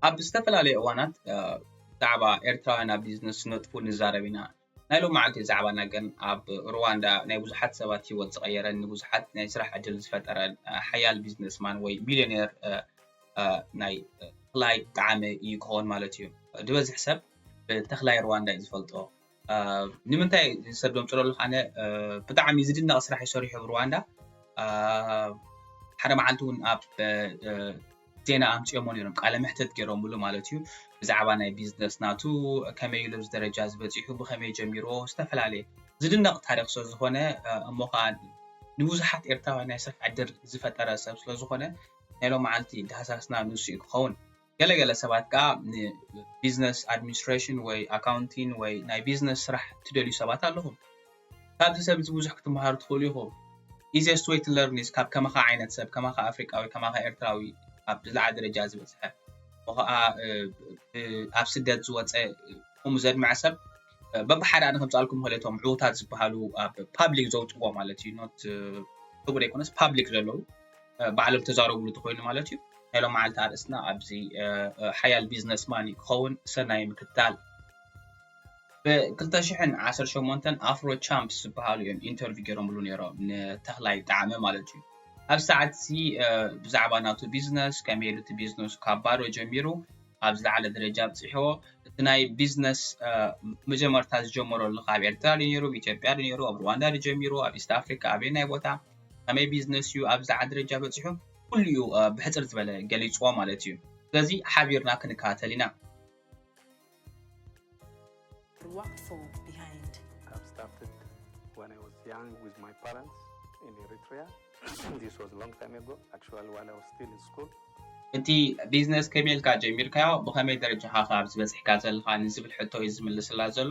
ኣብ ዝተፈላለየ እዋናት ብዛዕባ ኤርትራውያን ኣብ ቢዝነስ ነጥፉ ንዛረብ ኢና። ናይ ሎማዓንቲ ዛዕባና ግን ኣብ ሩዋንዳ ናይ ብዙሓት ሰባት ህይወት ዝቐየረን ንብዙሓት ናይ ስራሕ ዕድል ዝፈጠረን ሓያል ቢዝነስማን ወይ ሚልዮኔር ናይ ተኽላይ ጠዓመ እዩ ክኸውን ማለት እዩ። ዝበዝሕ ሰብ ብተኽላይ ሩዋንዳ እዩ ዝፈልጦ። ንምንታይ ሰብ ዘምፅሎ ኣለኩ ኣነ ብጣዕሚ ዝድነቅ ስራሕ እዩ ሰሪሑ ኣብ ሩዋንዳ ሓደ መዓልቲ እውን ኣብ ዜና ኣምፅኦሞ ነይሮም ቃለ መሕተት ገይሮምሉ ማለት እዩ ብዛዕባ ናይ ቢዝነስ ናቱ ከመይ ኢሉ ኣብዚ ደረጃ ዝበፂሑ ብከመይ ጀሚሮ ዝተፈላለየ ዝድነቅ ታሪክ ስለዝኮነ እሞ ከዓ ንብዙሓት ኤርትራውያን ናይ ስራሕ ዕድል ዝፈጠረ ሰብ ስለዝኮነ ናይ ሎመዓልቲ ዳህሳስና ንሱ እዩ ክኸውን ገለ ገለ ሰባት ከኣ ንቢዝነስ ኣድሚኒስትሬሽን ወይ ኣካውንቲን ወይ ናይ ቢዝነስ ስራሕ እትደልዩ ሰባት ኣለኹም። ካብዚ ሰብ እዚ ብዙሕ ክትመሃሩ ትኽእሉ ኢኹም። Easiest way to learn is ካብ ከማኻ ዓይነት ሰብ፣ ከማኻ ኣፍሪቃዊ፣ ከማኻ ኤርትራዊ፣ ኣብ ዝለዓለ ደረጃ ዝበጽሐ እሞ ከኣ ኣብ ስደት ዝወጸ ከምኡ ዘድመዐ ሰብ በብሓደ ኣነ ከምጽኣልኩም ይኽእል እየ እቶም ዕዉታት ዝበሃሉ ኣብ ፓብሊክ ዘውጽዎ ማለት እዩ ኖት ዕቡድ ኣይኮነስ ፓብሊክ ዘለዉ ባዕሎም ተዛረብሉ ተኮይኑ ማለት እዩ ናይ ሎመዓልቲ ኣርእስትና ኣብዚ ሓያል ቢዝነስ ማን እዩ ክኸውን ሰናይ ምክትታል ብ2018 ኣፍሮ ቻምፕስ ዝበሃሉ እዮም ኢንተርቪው ገይሮምሉ ነይሮም ንተኽላይ ጣዕመ ማለት እዩ ኣብ ሰዓት እዚ ብዛዕባ ናቱ ቢዝነስ ከመይ ኢሉ እቲ ቢዝነሱ ካብ ባዶ ጀሚሩ ኣብ ዝለዓለ ደረጃ ኣብፅሕዎ እቲ ናይ ቢዝነስ መጀመርታ ዝጀመረሉ ካብ ኤርትራ ዶ ነይሩ ኣብ ኢትዮጵያ ዶ ነይሩ ኣብ ሩዋንዳ ዶ ጀሚሩ ኣብ ኢስት ኣፍሪካ ኣበይ ናይ ቦታ ከመይ ቢዝነስ እዩ ኣብ ዝዓ ደረጃ በፂሑ ኩሉ እዩ ብሕፅር ዝበለ ገሊፅዎ ማለት እዩ ስለዚ ሓቢርና ክንከታተል ኢና እቲ ቢዝነስ ከመይ ኢልካ ጀሚርካዮ ብኸመይ ደረጃ ኸ ኣብዚ በፂሕካ ዘለኻ ንዝብል ሕቶ እዩ ዝምልስላ ዘሎ።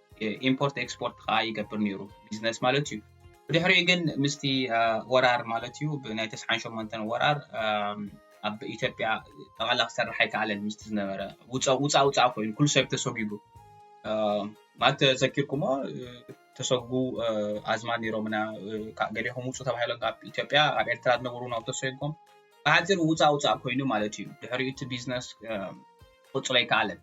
ኢምፖርት ኤክስፖርት ከዓ ይገብር ነይሩ ቢዝነስ ማለት እዩ ብድሕሪኡ ግን ምስቲ ወራር ማለት እዩ ብናይ ተስዓን ሸሞንተን ወራር ኣብ ኢትዮጵያ ጠቕላላ ክሰርሕ ኣይከኣለን ምስቲ ዝነበረ ውፃእ ውፃእ ኮይኑ ኩሉ ሰብ ተሰጒጉ ማለት ተዘኪርኩሞ ተሰጉ ኣዝማድ ነይሮምና ገሌኹም ውፁ ተባሂሎም ካብ ኢትዮጵያ ኣብ ኤርትራ ዝነበሩ ናብ ተሰጎም ብሓፂር ውፃእ ውፃእ ኮይኑ ማለት እዩ ድሕሪኡ እቲ ቢዝነስ ክቕፅሎ ኣይከኣለን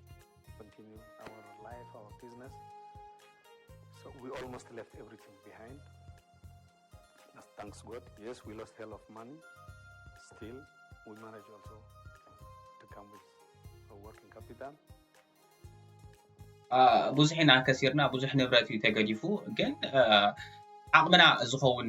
ብዙሕ ኢና ከሲርና ብዙሕ ንብረት እዩ ተገዲፉ ግን ዓቕምና ዝኸውን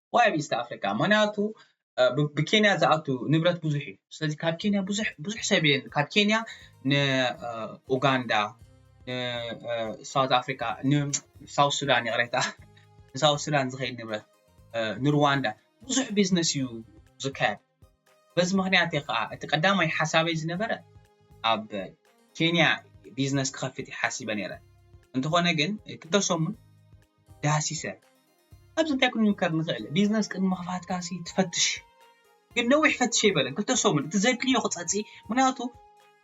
ዋይ ኣብ ኢስት ኣፍሪቃ ምክንያቱ ብ ኬንያ ዝኣቱ ንብረት ብዙሕ እዩ ስለዚ ካብ ኬንያ ብዙሕ ብዙሕ ሰብ እየ ካብ ኬንያ ን ኡጋንዳ ን ሳውት ኣፍሪቃ ን ሳውት ሱዳን ይቕሬታ ንሳውት ሱዳን ዝኸይድ ንብረት ንሩዋንዳ ብዙሕ ቢዝነስ እዩ ዝካየድ በዚ ምክንያት እየ ከኣ እቲ ቀዳማይ ሓሳበይ ዝነበረ ኣብ ኬንያ ቢዝነስ ክኸፍት እየ ሓሲበ ነይረ። እንተኾነ ግን ክልተ ሰሙን ዳህሲሰ ኣብዚ እንታይ ክንምከር ንኽእል ቢዝነስ ቅድሚ ምኽፋትካሲ ትፈትሽ ግን ነዊሕ ፈትሸ ይበለን ክልተ ሰሙን እቲ ዘድልዮ ክጸጽ ምክንያቱ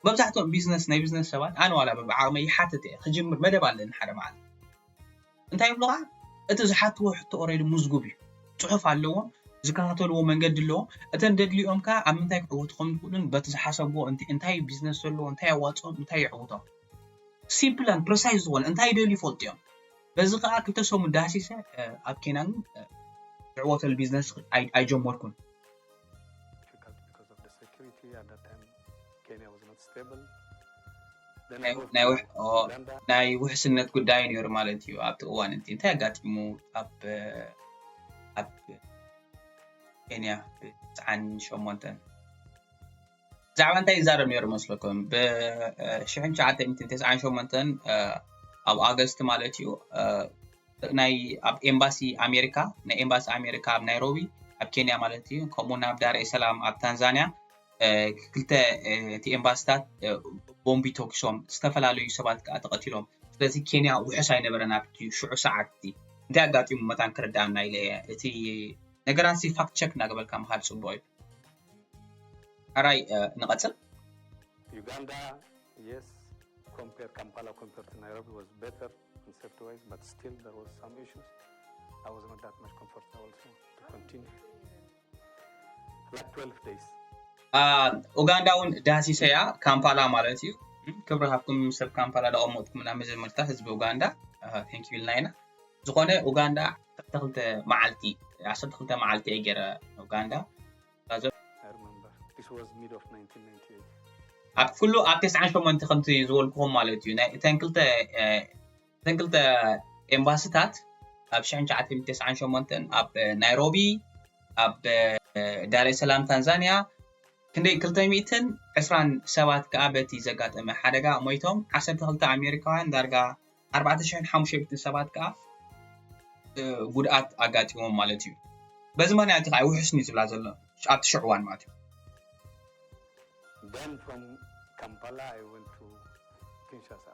መብዛሕትኦም ቢዝነስ ናይ ቢዝነስ ሰባት ኣነ ዋላ ብዓቕመይ ይሓትት እየ ክጅምር መደብ ኣለኒ ሓደ መዓልቲ እንታይ ይብሉኻ እቲ ዝሓትዎ ሕቶ ኦሬዲ ሙዝጉብ እዩ ጽሑፍ ኣለዎም ዝከታተልዎ መንገዲ ኣለዎም እተን ደድሊኦም ከኣ ኣብ ምንታይ ክዕወቱ ከም ዝኽእሉን በቲ ዝሓሰብዎ እንት እንታይ እዩ ቢዝነስ ዘለዎ እንታይ ኣዋጽኦም እንታይ የዕውቶም ሲምፕል ኣን ፕረሳይዝ ዝኾነ እንታይ ይደልዩ ይፈልጡ እዮም በዚ ከኣ ክልተ ሰሙን ዳህሲሰ ኣብ ኬንያን ዝዕወተሉ ቢዝነስ ኣይጀመርኩን ናይ ውሕስነት ጉዳይ ነይሩ ማለት እዩ ኣብቲ እዋን እቲ እንታይ ኣጋጢሙ ኣብ ኬንያ ብትስዓን ሸሞንተን ብዛዕባ እንታይ ይዛረብ ነይሩ መስለኩም ብሽሕን ትሽዓተን ተስዓን ሸሞንተን ኣብ ኣገስቲ ማለት እዩ ናይ ኣብ ኤምባሲ ኣሜሪካ ናይ ኤምባሲ ኣሜሪካ ኣብ ናይሮቢ ኣብ ኬንያ ማለት እዩ ከምኡውን ኣብ ዳርኤ ሰላም ኣብ ታንዛንያ ክልተ እቲ ኤምባሲታት ቦምቢ ተኪሶም ዝተፈላለዩ ሰባት ከዓ ተቐቲሎም ስለዚ ኬንያ ውሑስ ኣይነበረን ኣብቲ ሽዑ ሰዓት እቲ እንታይ ኣጋጢሙ መታን ክርዳኣና ኢለ እየ እቲ ነገራት ሲ ፋክት ቸክ እናገበልካ ምካድ ፅቡቅ እዩ ኣራይ ንቐፅል ዩጋንዳ የስ ኮምፔር ካምፓላ ኮምፔር ቱ ናይሮቢ ዋዝ ቤተር ኢን ሴፍቲ ዋይዝ በት ስቲል ዘር ዋዝ ሳም ኢሹስ ኣይ ዋዝ ኖት ዳት ማች ኮምፎርታብል ቱ ኮንቲኒ ኡጋንዳ ውን ዳህሲሰያ ካምፓላ ማለት እዩ ክብሪ ሃብኩም ሰብ ካምፓላ ዳቀመጥኩምና መጀመርታ ህዝቢ ኡጋንዳ thank you ኢልና ኢና ዝኾነ ኡጋንዳ ዓሰርተ ክልተ መዓልቲ ዓሰርተ ክልተ መዓልቲ እየ ጌረ ኡጋንዳ ኣብ ኩሉ ኣብ ተስዓን ሸሞንተ ከምቲ ዝበልኩኹም ማለት እዩ ናይ እተን ክልተ እተን ክልተ ኤምባሲታት ኣብ ሽሕን ትሽዓተን ተስዓን ሸሞንተን ኣብ ናይሮቢ ኣብ ዳሬሰላም ታንዛንያ ክንደይ ክልተ ሚእትን ዕስራን ሰባት ከኣ በቲ ዘጋጠመ ሓደጋ ሞይቶም ዓሰርተ ክልተ ኣሜሪካውያን ዳርጋ ኣርባዕተ ሽሕን ሓሙሽተ ሚእትን ሰባት ከኣ ጉድኣት ኣጋጢሞም ማለት እዩ በዚ ምክንያት ከዓ ውሕስን እዩ ዝብላ ዘሎ ኣብቲ ሽዑ እዋን ማለት እዩ Then from Kampala I went to Kinshasa.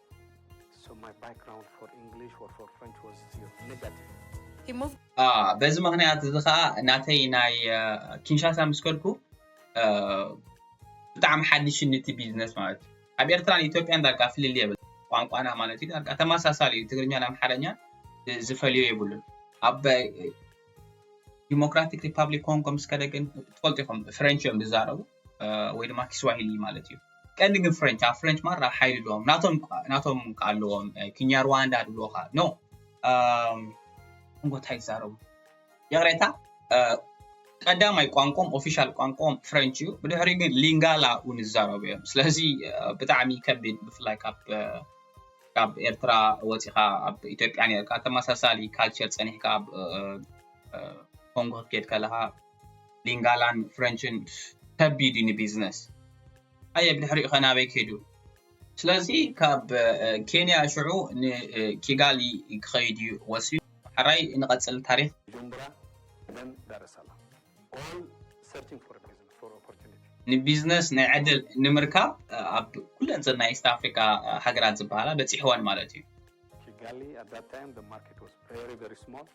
በዚ ምክንያት እዚ ከዓ ናተይ ናይ ኪንሻሳ ምስ ከድኩ ብጣዕሚ ሓዲሽኒ እቲ ቢዝነስ ማለት እዩ ኣብ ኤርትራን ኢትዮጵያን ዳርጋ ፍልል የብል ቋንቋና ማለት እዩ ዳርጋ ተመሳሳሊ እዩ ትግርኛን ኣምሓርኛን ዝፈልዮ የብሉን ኣብ ዲሞክራቲክ ሪፓብሊክ ኮንጎ ምስ ከደ ግን ትፈልጡ ኢኹም ፍሬንች እዮም ዝዛረቡ ወይ ድማ ኪስዋሂሊ ማለት እዩ ቀንዲ ግን ፍረንች ኣብ ፍረንች ማራ ሓይሊ ኣለዎም ናቶም ናቶም ከዓ ኣለዎም ኪኛርዋንዳ ድብልካ ኖ እንታይ ይዛረቡ ይቕሬታ ቀዳማይ ቋንቋም ኦፊሻል ቋንቋም ፍረንች እዩ ብድሕሪ ግን ሊንጋላ እውን ይዛረቡ እዮም ስለዚ ብጣዕሚ ከቢድ ብፍላይ ካብ ካብ ኤርትራ ወፂኻ ኣብ ኢትዮጵያ ነርካ ተመሳሳሊ ካልቸር ፀኒሕካ ኣብ ኮንጎ ክትከድ ከለካ ሊንጋላን ፍረንችን ከቢድ እዩ ንቢዝነስ ኣየ ብድሕሪኡ ከ ናበይ ከይዱ ስለዚ ካብ ኬንያ ሽዑ ንኪጋሊ ክኸይድ እዩ ወሲኑ ሓራይ ንቐፅል ታሪክ ቡጁምቡራ ዘን ዳረሳላ ኦል ሰርቺንግ ፎር ቢዝነስ ፎር ኦፖርቲኒቲ ንቢዝነስ ናይ ዕድል ንምርካብ ኣብ ኩለን ዘን ናይ ኢስት ኣፍሪካ ሃገራት ዝበሃላ በፂሕወን ማለት እዩ ኪጋሊ ኣት ዛት ታይም ዘ ማርኬት ዋዝ ቨሪ ቨሪ ስሞል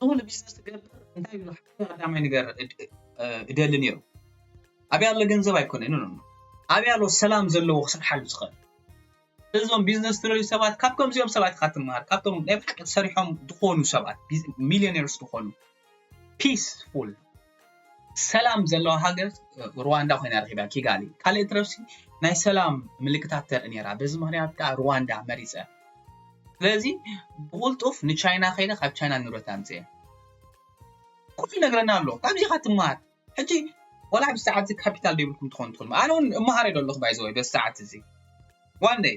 ንሱ ንቢዝነስ ትገብር እንታይ ኢሉ ሓደ ቀዳማይ ነገር እደሊ ነይሩ ኣብያ ኣሎ ገንዘብ ኣይኮነን ኖ ኣብያ ኣሎ ሰላም ዘለዎ ክሰርሓሉ ዝኽእል እዞም ቢዝነስ ትደልዩ ሰባት ካብ ከምዚኦም ሰባት ኢኻ ትምሃር ካብቶም ናይ ብሓቂ ሰሪሖም ዝኾኑ ሰባት ሚሊዮኔርስ ዝኾኑ ፒስፉል ሰላም ዘለዋ ሃገር ሩዋንዳ ኮይና ረኺባ ኪጋሊ ካልእ ትረፍሲ ናይ ሰላም ምልክታት ተርኢ ነይራ በዚ ምክንያት ከዓ ሩዋንዳ መሪፀ ስለዚ ብቁልጡፍ ንቻይና ከይደ ካብ ቻይና ንብረት ኣምፅኤ ኩሉ ይነግረና ኣሎ ካብዚ ኢኻ ትምሃር ሕጂ ወላ ኣብዚ ሰዓት እዚ ካፒታል ደይብልኩም ትኾኑ ትኽእሉ ኣነ እውን እምሃር ዶ ኣለኹ ባይዘወይ በዚ ሰዓት እዚ ዋንደይ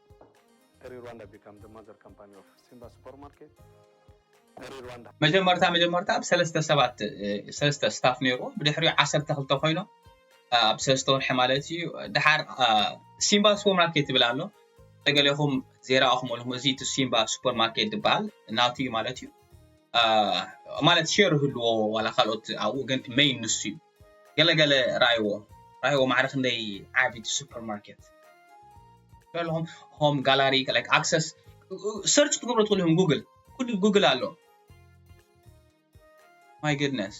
መጀመርታ መጀመርታ ኣብ ሰለስተ ሰባት ሰለስተ ስታፍ ነይርዎ ብድሕሪኡ ዓሰርተ ክልተ ኮይኖም ኣብ ሰለስተ ወርሒ ማለት እዩ ድሓር ሲምባ ሱፐር ማርኬት ይብል ኣሎ ተገሌኹም ዜራኹም ኣለኹም እዚ እቲ ሲምባ ሱፐር ማርኬት ዝበሃል ናቱ እዩ ማለት እዩ ማለት ሸር ህልዎ ዋላ ካልኦት ኣብኡ ግን መይን ንሱ እዩ ገለ ገለ ራኣይዎ ራኣይዎ ማዕረ ክንደይ ዓቢ ሱፐር ማርኬት በልኹም ሆም ጋላሪ ላይክ ኣክሰስ ሰርች ክትገብሩ ትኽእሉ ኢኹም ጉግል ኩሉ ጉግል ኣሎ ማይ ግድነስ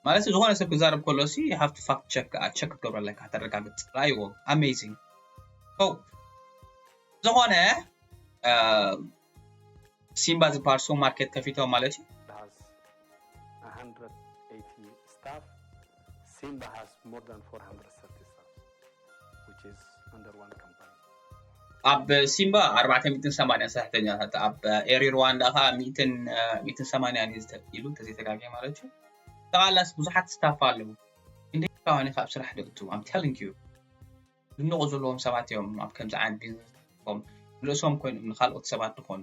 ማለት ዝኾነ ሰብ ክዛረብ ከሎ ሲ ሃፍቲ ፋክት ቸክ ከዓ ቸክ ክትገብሮ ኣለካ ተረጋግፅ ራይዎ ኣሜዚንግ ዝኾነ ሲምባ ዝበሃል ሱፐር ማርኬት ከፊቶም ማለት እዩ። ኣብ ሲምባ ኣርባዕተ ሚእትን ሰማንያን ሰራሕተኛታት ኣብ ኤሪ ሩዋንዳ ከኣ ሚእትን ሚእትን ሰማንያን እዩ ኢሉ እንተዘይተጋግየ ማለት እዩ ጠቓላስ ብዙሓት ስታፍ ኣለዉ ክንደይ ኢኻ ኣብ ስራሕ ደእቱ ኣም ቴሊንግ ዩ ዝንቑ ዘለዎም ሰባት እዮም ኣብ ከምዚ ዓይነት ቢዝነስ ተኣቲፎም ንርእሶም ኮይኖም ንኻልኦት ሰባት ድኾኑ።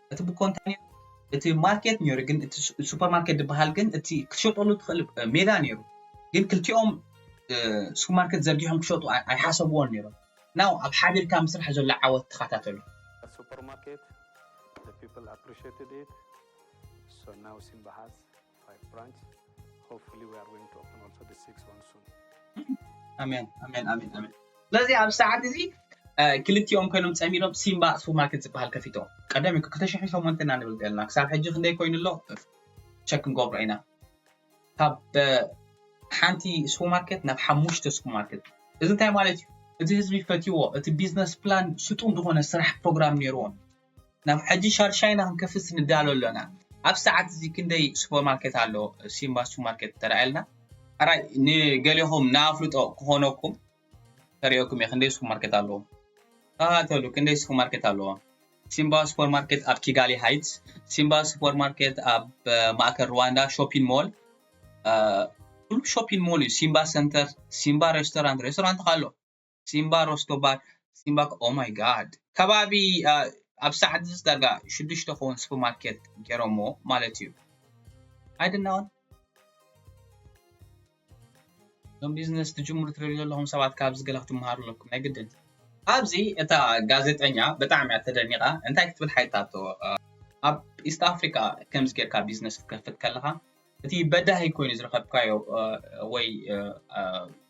እቲ ብኮ እንታይ ነይሩ እቲ ማርኬት ነይሩ ግን እቲ ሱፐር ማርኬት ዝበሃል ግን እቲ ክትሸጠሉ ትኽእል ሜዳ ነይሩ ግን ክልቲኦም ሱፐር ማርኬት ዘርጊሖም ክሸጡ ኣይሓሰብዎን ነይሮም ናው ኣብ ሓቢርካ ምስራሕ ዘሎ ዓወት ተኸታተሉ ሱፐር ማርኬት the people appreciated it so now Simba has ስለዚ ኣብዚ ሰዓት እዚ ክልቲኦም ኮይኖም ፀሚዶም ሲምባ ሱፐር ማርኬት ዝበሃል ከፊቶም ቀደም እዩ ክልተ ሽሕን ሸሞንተን ኢና ንብል ዘለና ክሳብ ሕጂ ክንደይ ኮይኑ ኣሎ ቸክ ክንገብሮ ኢና ካብ ሓንቲ ሱፐር ማርኬት ናብ ሓሙሽተ ሱፐር ማርኬት እዚ እንታይ ማለት እዩ እቲ ህዝቢ ፈትዎ እቲ ቢዝነስ ፕላን ስጡም ዝኾነ ስራሕ ፕሮግራም ነይርዎም ናብ ሕጂ ሻድሻይ ኢና ክንከፍት ንዳሎ ኣሎና። ኣብ ሰዓት እዚ ክንደይ ሱፐር ማርኬት ኣሎ ሲምባ ሱፐር ማርኬት ተራኣየልና። ሕራይ ንገሌኹም ንኣፍልጦ ክኾነኩም ከርእየኩም እየ ክንደይ ሱፐር ማርኬት ኣለዎ። ተኸታተሉ ክንደይ ሱፐር ማርኬት ኣለዎ። ሲምባ ሱፐር ማርኬት ኣብ ኪጋሊ ሃይትስ፣ ሲምባ ሱፐር ማርኬት ኣብ ማእከል ሩዋንዳ ሾፒን ሞል ኩሉ ሾፒን ሞል እዩ ሲምባ ሰንተር ሲምባ ሬስቶራንት ሬስቶራንት ከ ኣሎ። ሲምባ ሮስቶባር ሲምባ ኦህ ማይ ጋድ ከባቢ ኣብ ሳዓት እዚ ዳርጋ ሽዱሽተ ክከውን ስፕር ማርኬት ገሮሞ ማለት እዩ ኣይድናወን እዞም ቢዝነስ ትጅምሩ ትሪኡ ዘለኹም ሰባት ካብዚ ገለ ክትምሃሩ ኣለኩም ናይ ግድን ኣብዚ እታ ጋዜጠኛ ብጣዕሚ እያ ተደኒቃ እንታይ ክትብል ሓይታቶ ኣብ ኢስት ኣፍሪካ ከምዚ ጌርካ ቢዝነስ ክትከፍት ከለካ እቲ በዳሂ ኮይኑ ዝረከብካዮ ወይ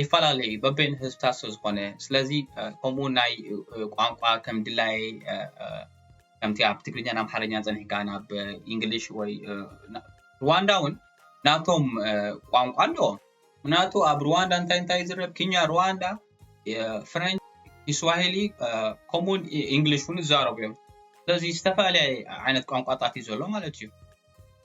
ይፈላለ እዩ በበይኑ ህዝብታት ስለ ዝኾነ ስለዚ ከምኡ ናይ ቋንቋ ከም ድላየ ከምቲ ኣብ ትግርኛን ኣምሓርኛ ፀኒሕካ ናብ እንግሊሽ ወይ ሩዋንዳ እውን ናቶም ቋንቋ ኣለዎም ምክንያቱ ኣብ ሩዋንዳ እንታይ እንታይ ዝረብ ኪኛ ሩዋንዳ ፍረንች ኢስዋሂሊ ከምኡውን እንግሊሽ እውን ይዛረቡ እዮም ስለዚ ዝተፈላለየ ዓይነት ቋንቋታት እዩ ዘሎ ማለት እዩ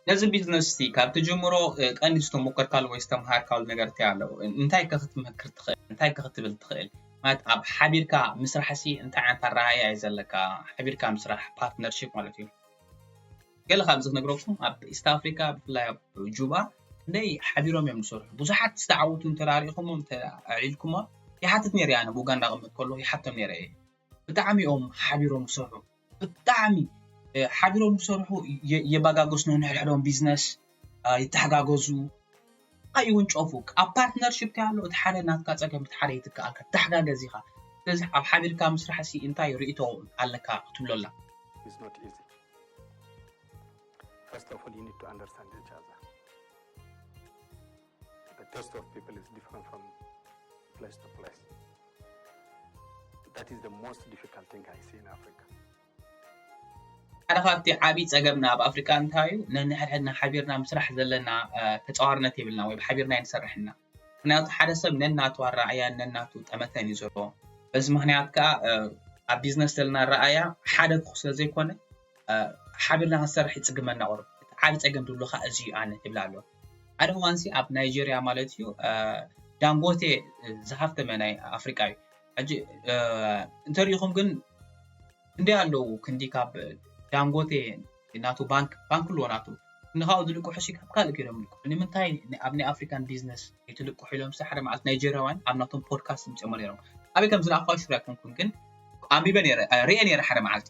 ነዚ ቢዝነስ እዚ ካብ ትጅምሮ ቀንዲ ዝተሞከርካሉ ወይ ዝተምሃርካሉ ነገር እንታይ ኣሎ? እንታይ ከ ክትመክር ትኽእል? እንታይ ከ ክትብል ትኽእል? ማለት ኣብ ሓቢርካ ምስራሕሲ እንታይ ዓይነት ኣረኣእያ እዩ ዘለካ? ሓቢርካ ምስራሕ ፓርትነርሺፕ ማለት እዩ። ገለ ካብዚ ክነግረኩም ኣብ ኢስት ኣፍሪካ ብፍላይ ኣብ ጁባ እንደይ ሓቢሮም እዮም ዝሰርሑ ብዙሓት ዝተዓወቱ እንተራሪእኹሞም ኣዕሊልኩሞም ይሓትት ነይረ ኣነ ብኡጋንዳ ቅምጥ ከሎ ይሓቶም ነይረ እየ ብጣዕሚ እዮም ሓቢሮም ክሰርሑ ብጣዕሚ ሓቢሮም ክሰርሑ የባጋገሱ ነንሕድሕዶም ቢዝነስ ይተሓጋገዙ ኣይውንጨፉ ኣብ ፓርትነርሽፕ እንታይ ኣሎ እቲ ሓደ ናትካ ፀገም እቲ ሓደ ይትከኣልካ ተሓጋገዝ ኢኻ ስለዚ ኣብ ሓቢርካ ምስራሕ ሲ እንታይ ርእቶ ኣለካ ክትብሎ ኣላ First of all, you need to understand each other. The taste of people is different from place to place. That is the most difficult thing I see in Africa. ሓደ ካብቲ ዓብዪ ፀገምና ኣብ ኣፍሪካ እንታይ እዩ ነንሕድሕድና ሓቢርና ምስራሕ ዘለና ተፃዋርነት የብልና ወይ ብሓቢርና ይንሰርሕና ምክንያቱ ሓደ ሰብ ነናቱ ኣረኣያን ነናቱ ጠመተን እዩ ዘለዎ በዚ ምክንያት ከዓ ኣብ ቢዝነስ ዘለና ኣረኣያ ሓደ ክኹ ስለ ዘይኮነ ሓቢርና ክንሰርሕ ይፅግመና ቁርብ እቲ ዓብዪ ፀገም ዝብሉ ከዓ እዚ እዩ ኣነ ይብላ ኣሎ ሓደ እዋን ሲ ኣብ ናይጀርያ ማለት እዩ ዳንጎቴ ዝሃፍተመ ናይ ኣፍሪቃ እዩ ሕጂ እንተሪኢኹም ግን ክንደይ ኣለዉ ክንዲ ካብ ዳንጎቴ ናቱ ባንክ ባንክ ኣለዎ ናቱ ንካብኡ ዝልቅሑ ሲ ካብ ካልእ ከይዶም ልቅሑ ንምንታይ ኣብ ናይ ኣፍሪካን ቢዝነስ ይትልቅሑ ኢሎም ሳሕደ መዓልቲ ናይጀርያውያን ኣብ ናቶም ፖድካስት ምፅኦሞ ነይሮም ኣበይ ከም ዝረኣኳ ሽር ኣይኮንኩን ግን ኣንቢበ ነይረ ርኤ ነይረ ሓደ መዓልቲ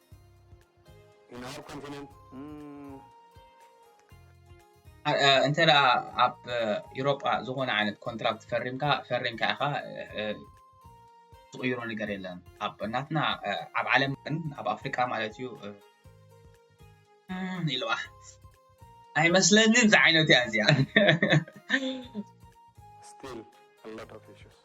In our continent, እንተ ኣብ ኤሮጳ ዝኾነ ዓይነት ኮንትራክት ፈሪምካ ፈሪምካ ኢኻ ዝቕይሮ ነገር የለን ኣብ ናትና ኣብ ዓለም ግን ኣብ ኣፍሪቃ ማለት እዩ ኢልዋ ኣይመስለንን ዝዓይነቱ እያ እዚኣ still a lot of issues.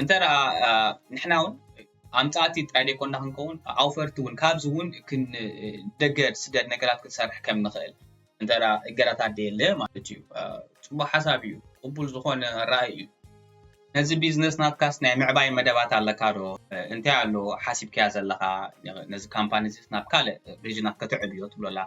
እንተ ንሕና ውን ኣምፃእቲ ጥራይ ዘይኮና ክንከውን ኣውፈርቲ ውን ካብዚ ውን ደገ ስደድ ነገራት ክንሰርሕ ከም ንኽእል እንተ እገዳታት ደየለ ማለት እዩ ፅቡቅ ሓሳብ እዩ ቅቡል ዝኾነ ራኢ እዩ ነዚ ቢዝነስ ናትካስ ናይ ምዕባይ መደባት ኣለካ ዶ እንታይ ኣሎ ሓሲብካያ ዘለኻ ነዚ ካምፓኒ እዚስ ናብ ካልእ ሪጅናት ከተዕብዮ ትብሎ ኣለኻ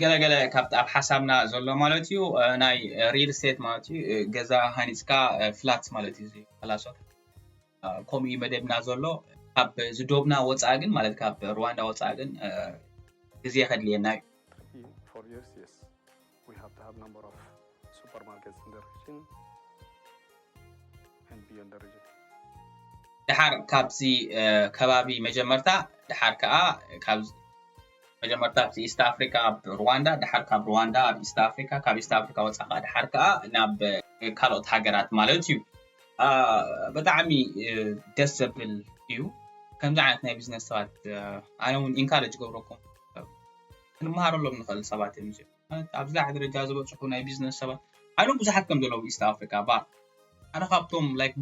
ገለ ገለ ካብቲ ኣብ ሓሳብና ዘሎ ማለት እዩ ናይ ሪል ስቴት ማለት እዩ ገዛ ሃኒፅካ ፍላት ማለት እዩ ላሶ ከምኡ እዩ መደብና ዘሎ ካብ ዝዶብና ወፃኢ ግን ማለት ካብ ሩዋንዳ ወፃኢ ግን ግዜ ከድልየና እዩ ድሓር ካብዚ ከባቢ መጀመርታ ድሓር ከዓ ካብ መጀመርታ ኣብቲ ኢስት ኣፍሪካ ኣብ ሩዋንዳ ድሓር ካብ ሩዋንዳ ኣብ ኢስት ኣፍሪካ ካብ ኢስት ኣፍሪካ ወፃ ከዓ ድሓር ከዓ ናብ ካልኦት ሃገራት ማለት እዩ ብጣዕሚ ደስ ዘብል እዩ ከምዚ ዓይነት ናይ ቢዝነስ ሰባት ኣነ እውን ኢንካሬጅ ገብረኩም ክንመሃረሎም ንኽእል ሰባት እዮም እዚኦም ኣብዚ ላዕሊ ደረጃ ዝበጽሑ ናይ ቢዝነስ ሰባት ኣሎም ብዙሓት ከም ዘለዉ ኢስት ኣፍሪካ ባር ሓደ ካብቶም ላይክ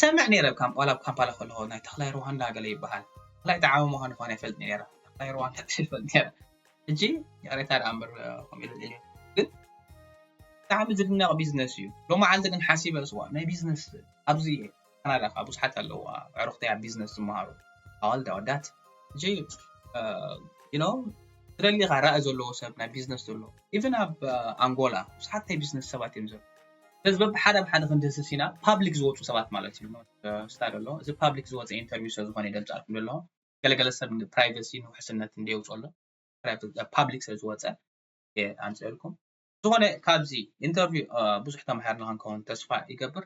ሰምዕ ነይረ ካብ ዋላ ኣብ ካምፓላ ከለኹ ናይ ተኽላይ ሩዋንዳ ገለ ይበሃል ተኽላይ ተዓቢ ምዃኑ ኳን ይፈልጥ ነይረ ተኽላይ ሩዋንዳ ይፈልጥ ነይረ ሕጂ ይቕሬታ ደኣ እምበር ከምኡ ኢለ ልዕልዮ ግን ብጣዕሚ ዝድነቕ ቢዝነስ እዩ ሎመዓልቲ ግን ሓሲበ ስዋ ናይ ቢዝነስ ኣብዚ እየ ካናዳ ከዓ ብዙሓት ኣለዋ ኣዕሩኽተይ ኣብ ቢዝነስ ዝመሃሩ ኣዋልድ ኣወዳት እጂ ኖ ትደሊኻ ራእይ ዘለዎ ሰብ ናይ ቢዝነስ ዘሎ ኢቨን ኣብ ኣንጎላ ብዙሓት ናይ ቢዝነስ ሰባት እዮም ዘሎ ስለዚ በብሓደ ኣብ ሓደ ክንድህስስ ኢና ፓብሊክ ዝወፁ ሰባት ማለት እዩ ስታድ ኣሎ እዚ ፓብሊክ ዝወፀ ኢንተርቪው ስለ ዝኾነ ይገልፃልኩም ዘለኹ ገለገለ ሰብ ፕራይቨሲ ንውሕስነት እንደ የውፅኦ ኣሎ ፓብሊክ ስለ ዝወፀ ኣምፅልኩም ዝኾነ ካብዚ ኢንተርቪው ብዙሕ ተምሃርና ክንከውን ተስፋ ይገብር